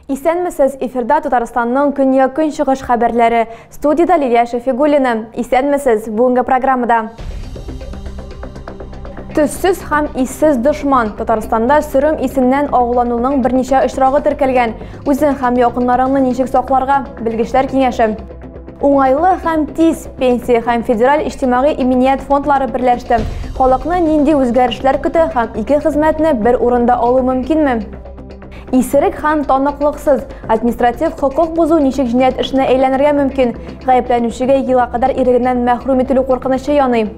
Исәнмесез, эфирда Татарстанның көньяк-көнчыгыш хәбәрләре. Студида Лилия Шәфигуллина. Исәнмесез, бүгенге программада. Төссез һәм иссез дошман. Татарстанда сөрем исеннән агулануның берничә очрагы теркәлгән. Үзең һәм якыннарыңны ничек сакларга? Белгечләр киңәше. Уңайлы һәм тиз пенсия һәм федераль иҗтимагый иминият фондлары берләште. Халыкны нинди үзгәрешләр көтә һәм ике хезмәтне бер урында алу мөмкинме? Исерек һәм таныклыксыз административ хокук бозу ничек җинаять эшенә әйләнергә мөмкин? Гаепләнүчегә елга кадәр ирегеннән мәхрүм ителү куркынычы яный.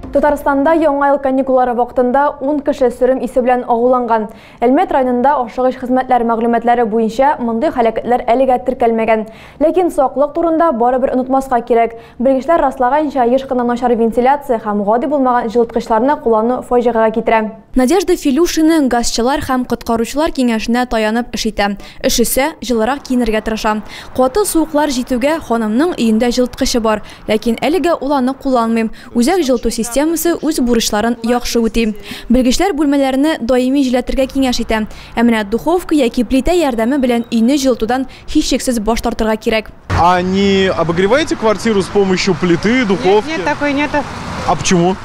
Татарстанда яңа ел каникуллары вакытында 10 кеше сөрем исе белән агуланган. Әлмәт районында ашыгыч хезмәтләр мәгълүматлары буенча мондый һәлакәтләр әлегә теркәлмәгән. Ләкин саклык турында барыбер онытмаска кирәк. Белгечләр раслаганча, еш кына начар вентиляция һәм гади булмаган җылыткычларны куллану фаҗигагә китерә. Надежда Филюшина газчылар һәм коткаручылар киңәшенә таянып эш итә. Өшесә, җылырак киенергә тырыша. Каты суыклар җитүгә, ханымның өендә җылыткычы бар, Ләкин әлегә ул аны кулланмыйм. Үзәк җылыту системасы үз бурычларын яхшы үти. Белгечләр бүлмәләрне даими җилләтергә киңәш итә. Ә менә духовка яки плитә ярдәме белән өйне җылытудан һичшиксез баш тартырга кирәк. А не обогреваете квартиру с помощью плиты, духовки? Нет, нет, такой нету. А почему?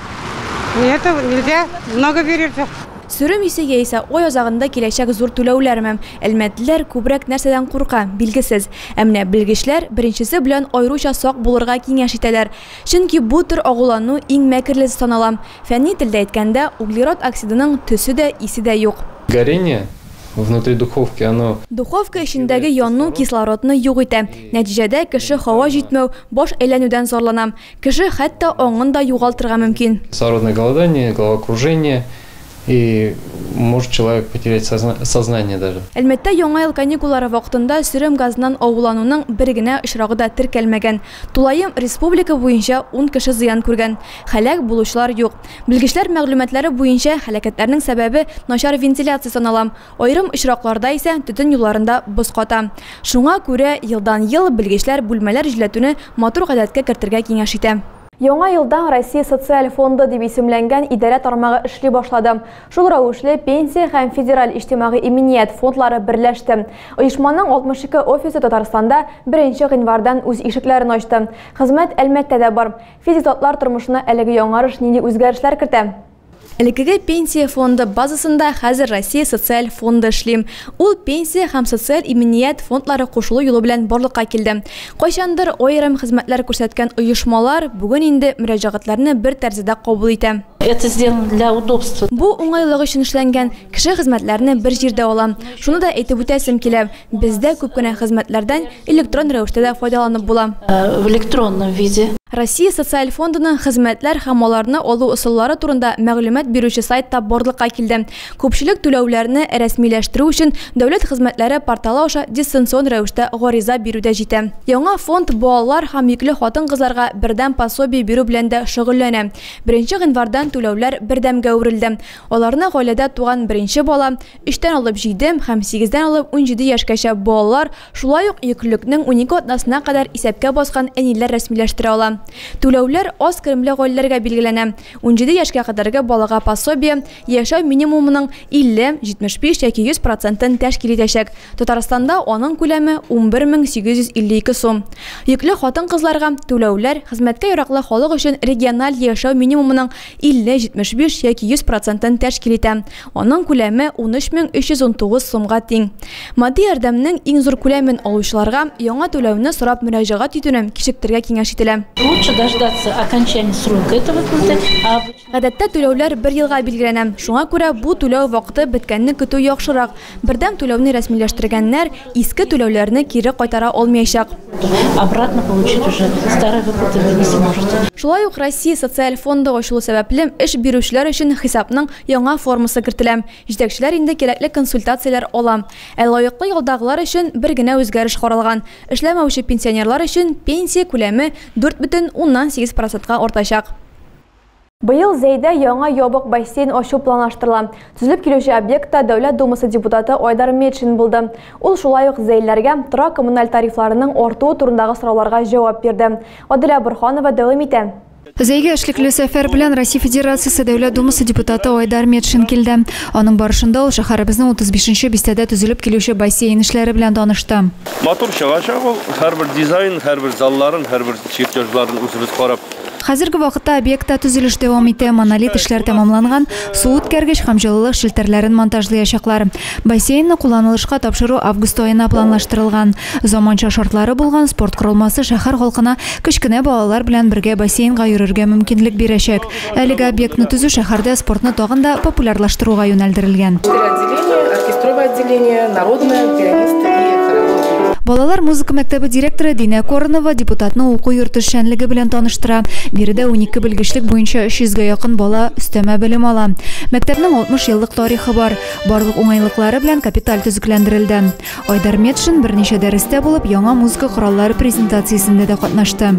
Нету, нельзя, много берется. Сөрем исе яисә ай азагында киләчәк зур түләүләрме? Әлмәтлеләр күбрәк нәрсәдән курка, билгесез. Ә менә белгечләр беренчесе белән аеруча сак булырга киңәш итәләр, чөнки бу төр агулану иң мәкерлесе санала. Фәнни телдә әйткәндә, углерод оксидының төсе дә, исе дә юк. Горение внутри духовки, оно. Духовка эчендәге яну кислородны юк итә. Нәтиҗәдә кеше һава җитмәү, баш әйләнүдән зарлана. Кеше хәтта аңын да югалтырга мөмкин. Кислородное голодание, головокружение, И может человек потерять сознание даже. Әлмәттә Яңа ел каникуллары вакытында сөрем газыннан авыулануның бер генә очрагы да теркәлмәгән. Тулаем республика буенча ун кеше зыян күргән. Һәлак булучылар юк. Белгечләр мәгълүматлары буенча, һәлакәтләрнең сәбәбе, начар вентиляция санала. Аерым очракларда исә төтен юлларында боз ката. Шуңа күрә елдан-ел белгечләр бүлмәләр җилләтүне матур гадәткә кертергә киңәш итә. Яңа елдан Россия социаль фонды дип исемләнгән идарә тармагы эшли башлады. Шул рәвешле Пенсия һәм Федераль иҗтимагый иминият фондлары берләште. Оешманың 62 офисы Татарстанда беренче гыйнвардан үз ишекләрен ачты. Хезмәт Әлмәттә дә бар. Физик затлар тормышына әлеге яңарыш нинди үзгәрешләр кертә? Элеккеге Пенсия фонды базасында хәзер Россия социаль фонды эшли. Ул Пенсия һәм социаль иминият фондлары кушылу юлы белән барлыкка килде. Кайчандыр аерым хезмәтләр күрсәткән оешмалар бүген инде мөрәҗәгатьләрне бер тәрәзәдә кабул итә. Это сделано для удобства. Бу уңайлык өчен эшләнгән, кеше хезмәтләрне бер җирдә ала. Шуны да әйтеп үтәсем килә, Бездә күп кенә хезмәтләрдән электрон рәвештә дә файдаланып була. В электронном виде. Россия Социаль фондының хезмәтләр һәм аларны алу ысуллары турында мәгълүмат бирүче сайт та барлыкка килде. Күпчелек түләүләрне рәсмиләштерү өчен Дәүләт хезмәтләре порталы аша дистанцион рәвештә гариза бирү дә җитә. Яңа фонд балалар һәм йөкле хатын-кызларга бердәм пособие бирү белән дә шөгыльләнә. Беренче гыйнвардан түләүләр бердәмгә әверелде. Аларны гаиләдә туган беренче бала, Өчтән алып җиде һәм сигездән алып унҗиде яшькәчә балалар, шулай ук йөклелекнең унике атнасына кадәр исәпкә баскан әниләр рәсмиләштерә ала. Түләүләр аз керемле гаиләләргә билгеләнә, унҗиде яшькә кадәрге балага пособие яшәү минимумының 50, 75 яки 100 процентын тәшкил итәчәк, Татарстанда аның күләме 11 мең 852 сум. Йөкле хатын-кызларга түләүләр, хезмәткә яраклы халык өчен региональ яшәү минимумының 50, 75 яки 100 процентын тәшкил итә. Аның күләме 13319 сумга тиң. Матди ярдәмнең иң зур күләмен алучыларга яңа түләүне сорап мөрәҗәгать итүне кичектерергә киңәш ителә. Лучше дождаться окончания срока этой выплаты, а обычно. Гадәттә түләүләр бер елга билгеләнә, шуңа күрә бу түләү вакыты беткәнне көтү яхшырак, Бердәм түләүне рәсмиләштергәннәр иске түләүләрне кире кайтара алмыячак. Обратно получить уже старые выплаты вы не сможете. Шулай ук Россия социаль фонды ачылу сәбәпле, эш бирүчеләр өчен хисапның яңа формасы кертелә. Җитәкчеләр инде кирәкле консультацияләр ала. Ә лаеклы ялдагылар өчен бер генә үзгәреш каралган, эшләмәүче пенсионерлар өчен пенсия күләме дүрт бөтен уннан сигез процентка артачак. Быел Зәйдә яңа ябык бассейн ачу планлаштырыла. Төзелеп килүче объектта Дәүләт Думасы депутаты Айдар Метшин булды. Ул шулай ук зәйлеләргә тора-коммуналь тарифларының артуы турындагы сорауларга җавап бирде. Аделя Борһанова дәвам итә. Зәйгә эшлекле сәфәр белән Россия Федерациясе Дәүләт Думасы депутаты Айдар Метшин килде. Аның барышында ул шәһәребезнең 35 нче бистәдә төзелеп килүче бассейн эшләре белән танышты. Матур чыгачак ул. Һәрбер дизайн, һәрбер залларын, һәрбер чертежларын үзебез карап Хәзерге вакытта объектта төзелеш дәвам итә. Монолит эшләр тәмамланган, су үткәргеч һәм җылылык челтәрләрен монтажлыячаклар. Бассейнны кулланылышка тапшыру август аена планлаштырылган. Заманча шартлары булган спорт корылмасы шәһәр халкына кечкенә балалар белән бергә бассейнга йөрергә мөмкинлек бирәчәк. Әлеге объектны төзү шәһәрдә спортны тагын да популярлаштыруга юнәлдерелгән. Оркестровое отделение, народное, пианисты и хорология. Балалар музыка мәктәбе директоры Динә Корнова депутатны уку йорты эшчәнлеге белән таныштыра. Биредә унике белгечлек буенча 300 гә якын бала өстәмә белем ала. Мәктәпнең 60 еллык тарихы бар. Барлык уңайлыклары белән капиталь төзекләндерелде. Айдар Метшин берничә дәрестә булып, яңа музыка кораллары презентациясендә дә катнашты.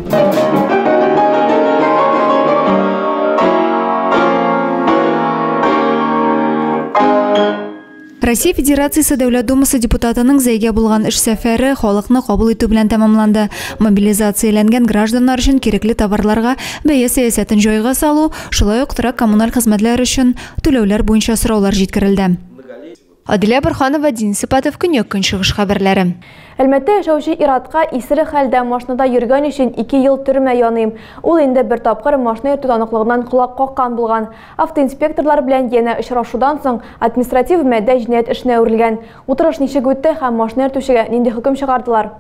Россия Федерациясе Дәүләт Думасы депутатының зәйгә булган эш сәфәре халыкны кабул итү белән тәмамланды. Мобилизацияләнгән гражданнар өчен кирәкле товарларга бәя сәясәтен җайга салу, шулай ук торак-коммуналь хезмәтләр өчен түләүләр буенча сораулар җиткерелде. Адилә Борханова, Денис Ипатов, Көньяк-Көнчыгыш хәбәрләре. Әлмәттә яшәүче ир-атка исерек хәлдә машинада йөргән өчен ике ел төрмә яный. Ул инде бер тапкыр машина йөртү таныклыгыннан колак каккан булган. Автоинспекторлар белән янә очрашудан соң, административ-мәдә җинаять эшенә әверелгән. Утырыш ничек үтте һәм машина йөртүчегә нинди хөкем чыгардылар?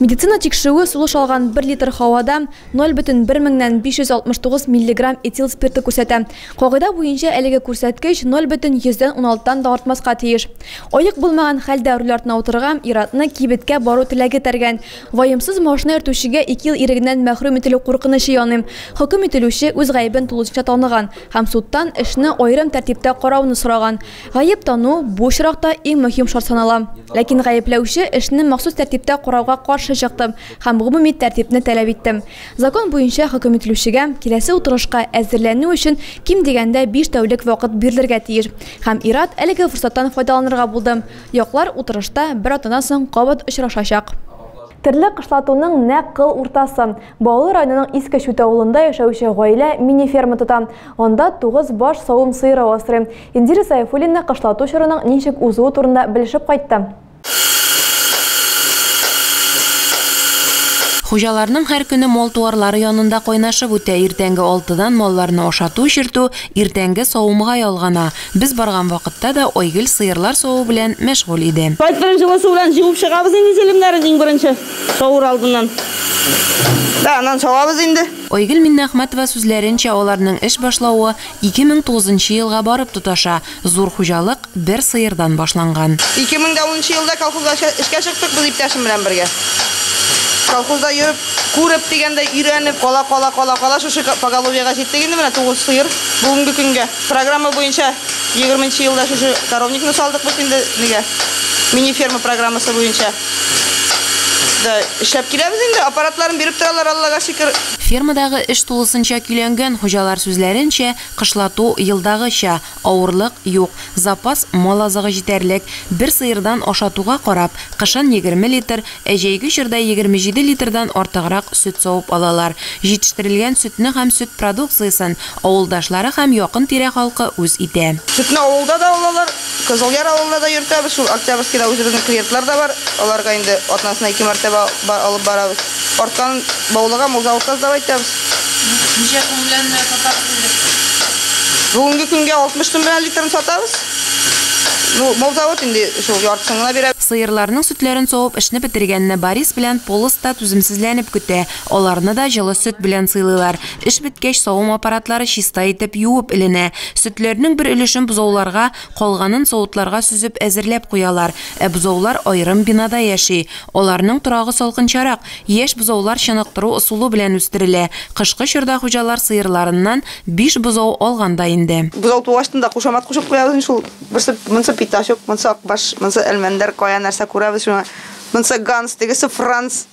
Медицина тикшерүе сулыш алган бер литр һавада 0,1 меңнән 569 миллиграмм этил спирты күрсәтә. Кагыйдә буенча әлеге күрсәткеч 0,116 тан да артмаска тиеш. Аек булмаган хәлдә руль артына утырырга, ир-атны кибеткә бару теләге этәргән. Ваемсыз машина йөртүчегә ике ел ирегеннән мәхрүм ителү куркынычы яный. Хөкем ителүче үз гаебен тулысынча таныган һәм судтан эшне аерым тәртиптә карауны сораган. Гаеп тану, бу очракта, иң мөһим шарт санала. Ләкин гаепләүче эшне махсус тәртиптә карауга каршы чыктым һәм гомуми тәртипне таләп иттем. Закон буенча хөкем ителүчегә киләсе утырышка әзерләнү өчен ким дигәндә биш тәүлек вакыт бирелергә тиеш. Һәм ир-ат әлеге форсаттан файдаланырга булды. Яклар утырышта бер атнадан соң кабат очрашачак. Терлек кышлатуның нәкъ кыл уртасы. Баулы районының Иске Чүт авылында яшәүче гаилә мини-ферма тота. Анда тугыз баш савым сыеры асрый. Индира Сәйфуллина кышлату чорының ничек узуы турында белешеп кайтты. Хуҗаларның һәр көне мал-туарлары янында кайнашып үтә, иртәнге алтыдан малларны ашату-эчертү, иртәнге савымга ялгана. Без барган вакытта да Айгөл сыерлар саву белән мәшгуль иде. Кайтырын җылы су белән җуып чыгабыз инде җилемнәрен иң беренче. Савыр алдыннан. Да, анан савабыз инде. Айгөл Миннәхмәтова сүзләренчә, аларның эш башлавы 2009 нчы елга барып тоташа, зур хуҗалык бер сыердан башланган. 2010 нчы елда колхозга эшкә чыктык без иптәшем белән бергә. Колхозда йөреп, күреп дигәндәй, өйрәнеп, кала-кала, кала-кала шушы поголовьега җиттек инде менә, 9 сыер бүгенге көнгә. Программа буенча 20 нчы елда шушы коровникны салдык без инде, нигә, мини-ферма программасы буенча. Да, эшләп киләбез инде, аппаратларын биреп торалар, Аллага шөкер. Фермадагы эш тулысынча көйләнгән, хуҗалар сүзләренчә, кышлату, елдагыча, авырлык юк, запас мал азыгы җитәрлек, бер сыердан ашатуга карап, кышын егерме литр, ә җәйге чорда егерме җиде литрдан артыграк сөт савып алалар, җитештерелгән сөтне һәм сөт продукциясен Авылдашлары һәм якын тирә халкы үз итә. Сөтне авылда да алалар, Кызылъяр авылына да йөртәбез, шул Октябрьскида үзебезнең клиентлар да бар, аларга инде атнасына ике мәртәбә ба алып барабыз. Артканын Баулыга Мулзаводка сдавать итәбез. Ничә сум белән сатасыз инде сез? Бүгенге көнгә 60 сум белән литрын сатабыз. Ну, Мулзавод инде шул яртысын гына бирә. Сыерларның сөтләрен савып эшне бетергәнне Борис белән Полос та түземсезләнеп көтә. Аларны да җылы сөт белән сыйлыйлар. Эш беткәч, савым аппаратлары чиста итеп юып эленә. Сөтләрнең бер өлешен бозауларга, калганын савытларга сөзеп әзерләп куялар. Ә бозаулар аерым бинада яши. Аларның торагы салкынчарак, яшь бозаулар чыныктыру ысулы белән үстерелә. Кышкы чорда хуҗалар сыерларыннан биш бозау алган да инде. Бозау туу астында кушамат кушып куябыз инде шул. Берсе монсы питачок, монсы акбаш, монсы әлмәндәр, кая нәрсә күрәбез, шуны Монсы Ганс, тегесе Франц.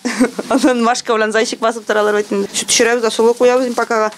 Анын Машка белән Зайчик басып торалар бит инде. Сүт пешерәбез, асылы куябыз инде пакага.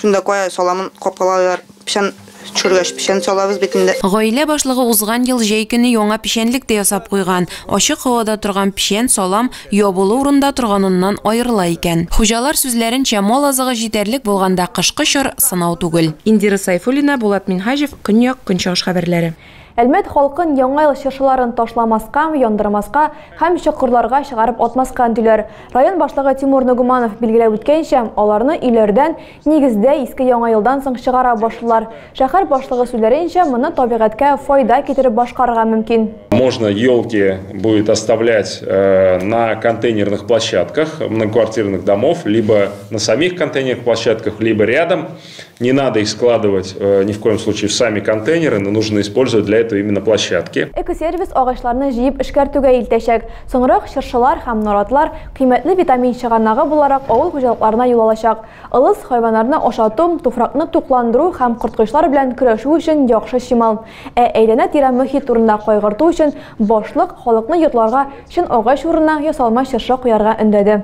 Шунда кая саламын капкалалар. Печән төшергәч, печән салабыз бит инде. Гаилә башлыгы узган ел җәй көне яңа печәнлек тә ясап куйган. Ачык һавада торган печән, салам, ябулы урында торганыннан аерыла икән. Хуҗалар сүзләренчә, мал азыгы җитәрлек булганда кышкы чор сынау түгел. Индира Сайфуллина, Булат Минһаҗев, Көньяк, Көнчыгыш хәбәрләре. Әлмәт халкын Яңа ел чыршыларын ташламаска, яндырмаска һәм чокырларга чыгарып атмаска өндиләр. Район башлыгы Тимур Ногуманов билгеләп үткәнчә, аларны өйләрдән, нигездә, Иске Яңа елдан соң чыгара башлыйлар. Шәһәр башлыгы сүзләренчә, моны табигатькә файда китереп башкарырга мөмкин. Можно елки будет оставлять на контейнерных площадках многоквартирных домов, либо на самих контейнерных площадках, либо рядом. Не надо их складывать э, ни в коем случае в сами контейнеры, но нужно использовать для этого именно площадки. Экосервис агачларны җыеп эшкәртүгә илтәчәк. Соңрак чыршылар һәм наратлар кыйммәтле витамин чыганагы буларак авыл хуҗалыкларына юл алачак. Ылыс хайваннарны ашату, туфракны тукландыру һәм корткычлар белән көрәшү өчен яхшы чимал. Ә әйләнә-тирә мөхит турында кайгырту өчен башлык халыкны йортларга чын агач урынына ясалма чыршы куярга өндәде.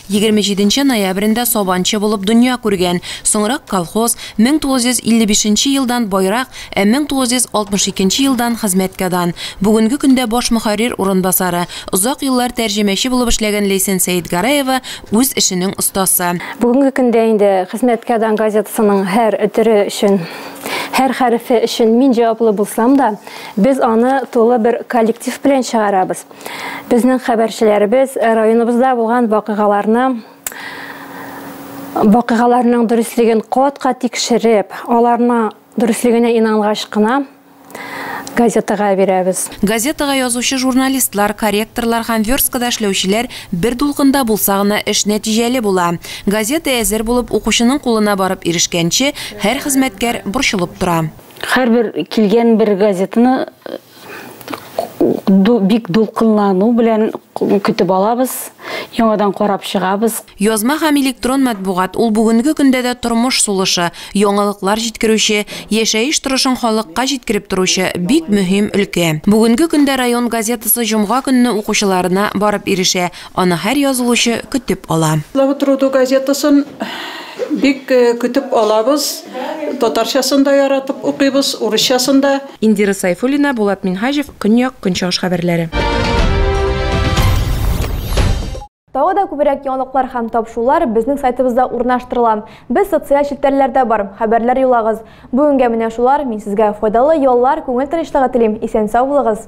Егерме җиденче ноябрендә Сабанчы булып дөнья күргән, соңрак колхоз, 1955 елдан байрак, ә 1962 елдан хезмәткәдан, бүгенге көндә баш мөхәррир урынбасары, озак еллар тәрҗемәче булып эшләгән Ләйсән Сәетгәрәева үз эшенең остасы. Бүгенге көндә инде Хезмәткәдан газетасының һәр төре өчен, һәр хәрефе өчен мин җаваплы булсам да, без аны тулы бер коллектив белән чыгарабыз. Безнең хәбәрчеләребез районыбызда булган вакыйгаларны вакыйгаларның дөреслеген катка тикшереп, аларны дөреслегенә инангач кына газетага бирәбез. Газетага язучы журналистлар, корректорлар һәм версткада эшләүчеләр бер дулкында булса гына эш нәтиҗәле була. Газета әзер булып, укучының кулына барып ирешкәнче, һәр хезмәткәр борчылып тора. Һәрбер килгән бер газетаны бик дулкынлану белән көтеп алабыз, яңадан карап чыгабыз. Язма һәм электрон матбугат, ул бүгенге көндә дә тормыш сулышы, яңалыклар җиткерүче, яшәеш торышын халыкка җиткереп торучы бик мөһим өлкә. Бүгенге көндә район газетасы җомга көнне укучыларына барып ирешә. Аны һәр язылучы көтеп ала. Слава труду газетасын бик көтеп алабыз. Татарчасын да яратып укыйбыз, урысчасын да. Индира Сайфуллина, Булат Минһаҗев, Көньяк, Көнчыгыш хәбәрләре. Тагы да күбрәк яңалыклар һәм тапшулар безнең сайтыбызда урнаштырыла. Без социаль челтәрләрдә бар, хәбәрләр юлагыз. Бүгенгә менә шулар, мин сезгә файдалы яллар, күңел тынычлыгы телим, исән-сау булыгыз!